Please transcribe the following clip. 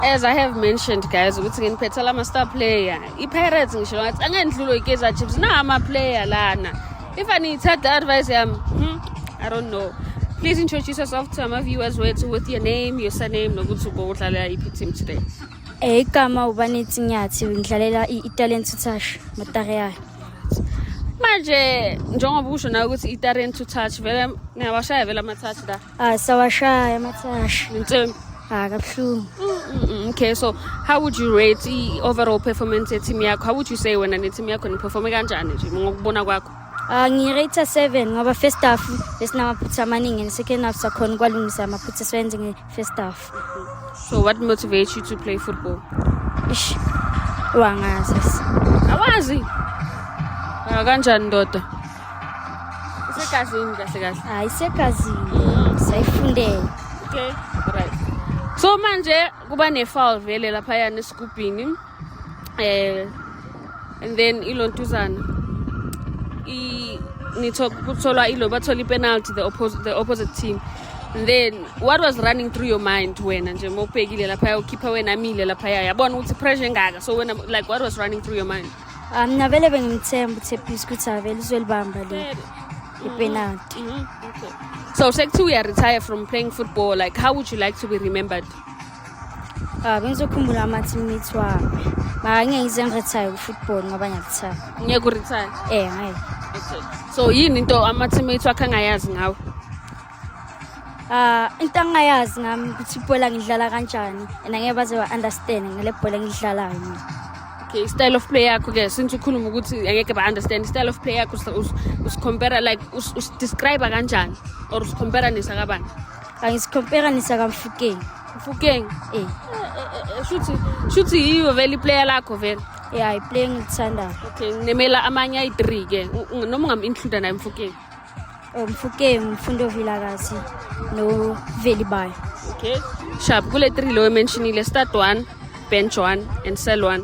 as i have mentioned guys ukuthi nginiphethela ama-star player i-pirates ngisho ngathi angendlulwe i-kaizer chiefs na ama-player lana if aniyithatha advice yami hmm, i don't know please introduce yourself to ama viewers wethu with your name your surname nokuthi ubo udlalela iphi team today eh igama ubanethi nyathi ngidlalela i-italian touch matare yayo manje njengoba usho nawe ukuthi i-italian touch vele ngiyawashaya vele ama-touch la Ah, sawashaya amathashi. Insimbi. Ah, kabuhlungu. Mm, Okay, so how would you rate the overall performance ye team yakho? How would you say wena ne team yakho niperforme kanjani nje ngokubona kwakho? Ah, ngirate 7 ngoba first half besinamaphutha amaningi and second half sakhona ukwalungisa amaphutha esiwenze nge first half. So what motivates you to play football? Ish. Wangazi. Awazi. Ah kanjani ndoda? Isegazini kahle kahle. Hayi isegazini. Sayifundela. Okay. Right. So manje kuba ne-foul vele laphayana esigubhini. eh and then ilontuzana i nitho kutholwa ilo bathola ipenalty the opposite the opposite team and then what was running through your mind wena nje mawubhekile lapha ukhipha wena amile lapha yabona ukuthi pressure engaka so wena like what was running through your mind um mina vele bengimthemba ukuthi ephisi ukuthi avele uzolibamba le ipenalty mm-hmm. mm-hmm. so sekuthiwa uyaretire from playing football like how would you like to be remembered Ah, bengizokhumbula ama-teammates wami mara ngeke ngize ngirethaye ku-football ngoba ngiyakuthanda ngeke urethaye eh ngeke so yini into ama-teammates wakho angayazi ngawe Ah, into angayazi ngami ukuthi ibhola ngidlala kanjani and angeke baze ba-understand ngale bhola engidlalayo mina okay i-style of play yakho ke since ukhuluma ukuthi angeke ba-understand i-style of play yakho usicompara like usidescribe kanjani or usicompara nesakabani angisikhomperanisa kamfukeng mfukeng eh shuthi shuthi yiyo vele iplayer lakho vele ya iplayer engilithandayo okay nginemela amanye ayi-three ke noma ungam-includa naye mfukeng oh, mfukeng mfundo vilakazi novelibayo okay shab kule three lo ementionile start one bench one and sell one